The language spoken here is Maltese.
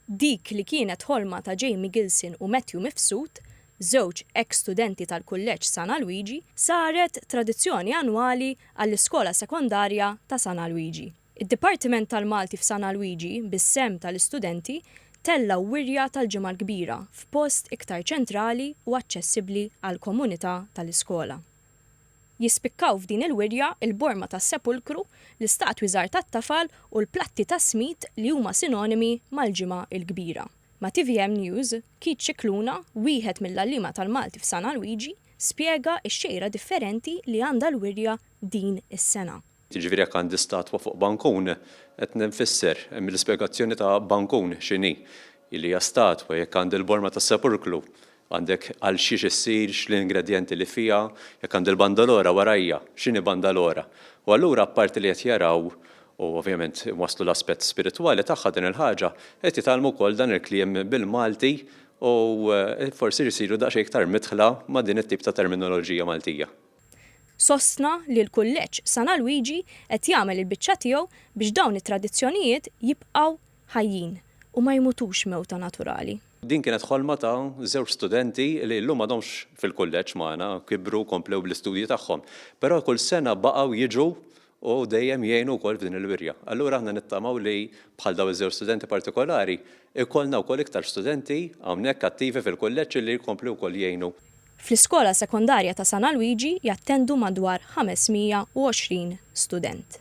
Dik li kienet ħolma ta' Jamie Gilson u Matthew Mifsud, żewġ eks studenti tal-Kulleġġ San Alwiġi, saret tradizzjoni annwali għall-Iskola Sekondarja ta' San Alwiġi. Id-Dipartiment tal-Malti f'San Alwiġi, bis-sehem tal-istudenti, tella' wirja tal-Ġimgħa l-Kbira f'post iktar ċentrali u aċċessibbli għall-komunità tal-iskola. Jispikkaw f'din il-wirja l-borma tas-Sepulkru, l-istatwi żgħar tat-tafal u l-platti tas-smid li huma sinonimi mal-Ġimgħa l-Kbira. Ma' tvm News, Keith Scicluna, wieħed mill-għalliema tal-Malti f'San Alwiġi, spjega x-xejra differenti li għandha l-wirja din is-sena. Jiġifieri jekk għandi statwa fuq bankun, qed nfisser, mill-ispjegazzjoni ta' bankun x'inhi, li hija statwa, jekk għandi l-borma tas-sepulklu, għandek għal xiex issir, x'l-ingredjenti li fiha, jekk għandi l-bandalora warajja, x'inhi bandalora. U allura apparti li qed jaraw u ovvjament iwasslu l-aspett spiritwali tagħha din il-ħaġa, qed jitgħallmu wkoll dan il-kliem bil-Malti u forsi jsiru daqsxejn iktar midħla ma' din it-tip ta' terminoloġija Maltija. sostna li l-Kulleġġ San Alwiġi qed jagħmel il-biċċa tiegħu biex dawn it-tradizzjonijiet jibqgħu ħajjin u ma jmutux mewta naturali. Din kienet ħolma ta' żewġ studenti li llum m'għadhomx fil-kulleġġ magħna, kibru u komplew bl-istudji tagħhom. Però kull sena baqgħu jiġu u dejjem jgħinu wkoll f'din il-wirja. Allura aħna nittamaw li bħal dawn iż-żewġ studenti partikolari, ikollna wkoll iktar studenti hawnhekk attivi fil-kulleġġ li jkomplu wkoll jgħinu. Fl-Iskola Sekondarja ta' San Alwiġi jattendu madwar 520 student.